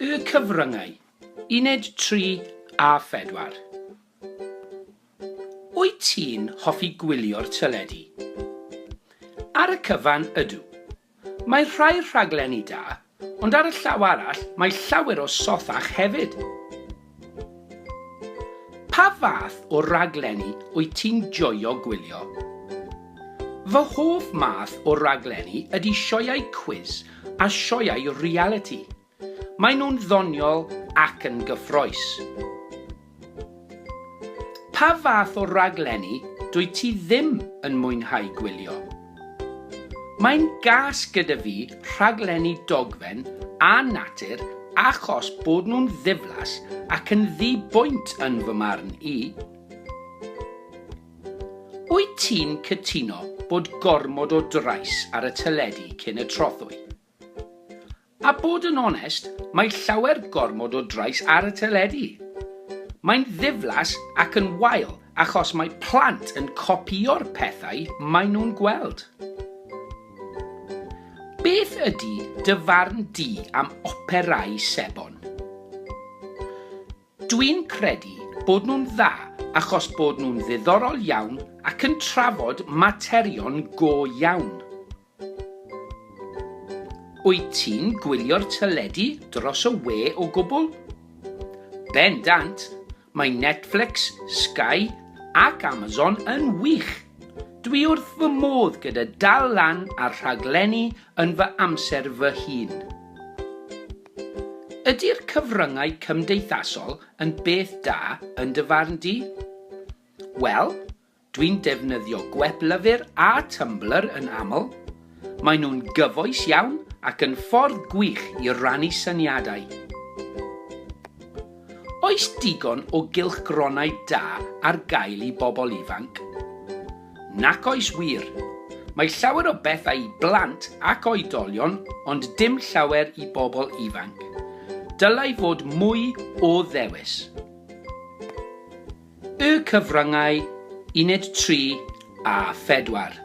Y cyfryngau, uned tri a phedwar. Wyt ti'n hoffi gwylio'r teledu? Ar y cyfan, ydw. Mae rhai rhaglenni da, ond ar y llaw arall mae llawer o sothach hefyd. Pa fath o raglenni wyt ti'n joio gwylio? Fy hoff math o raglenni ydy sioeau cwis a sioeau realiti. Maen nhw'n ddoniol ac yn gyffrous. Pa fath o raglenni dwyt ti ddim yn mwynhau gwylio? Mae'n gas gyda fi rhaglenni dogfen a natur achos bod nhw'n ddiflas ac yn ddi bwynt yn fy marn i. Wyt ti'n cytuno bod gormod o drais ar y teledu cyn y trothwy? A bod yn onest, mae llawer gormod o drais ar y teledu. Mae'n ddiflas ac yn wael achos mae plant yn copïo'r pethau maen nhw'n gweld. Beth ydy dy farn di am operâu sebon? Dwi'n credu bod nhw'n dda achos bod nhw'n ddiddorol iawn ac yn trafod materion go iawn. Wyt ti'n gwylio'r teledu dros y we o gwbl? Bendant! Mae Netflix, Sky ac Amazon yn wych! Dwi wrth fy modd gyda dal lan ar rhaglenni yn fy amser fy hun. Ydy'r cyfryngau cymdeithasol yn beth da yn dy farn di? Wel, dwi'n defnyddio gweplyfr a Tumblr yn aml. Maen nhw'n gyfoes iawn ac yn ffordd gwych i rannu syniadau. Oes digon o gylchgronau da ar gael i bobl ifanc? Nac oes wir! Mae llawer o bethau i blant ac oedolion ond dim llawer i bobl ifanc. Dylai fod mwy o ddewis. Y cyfryngau uned 3 a 4.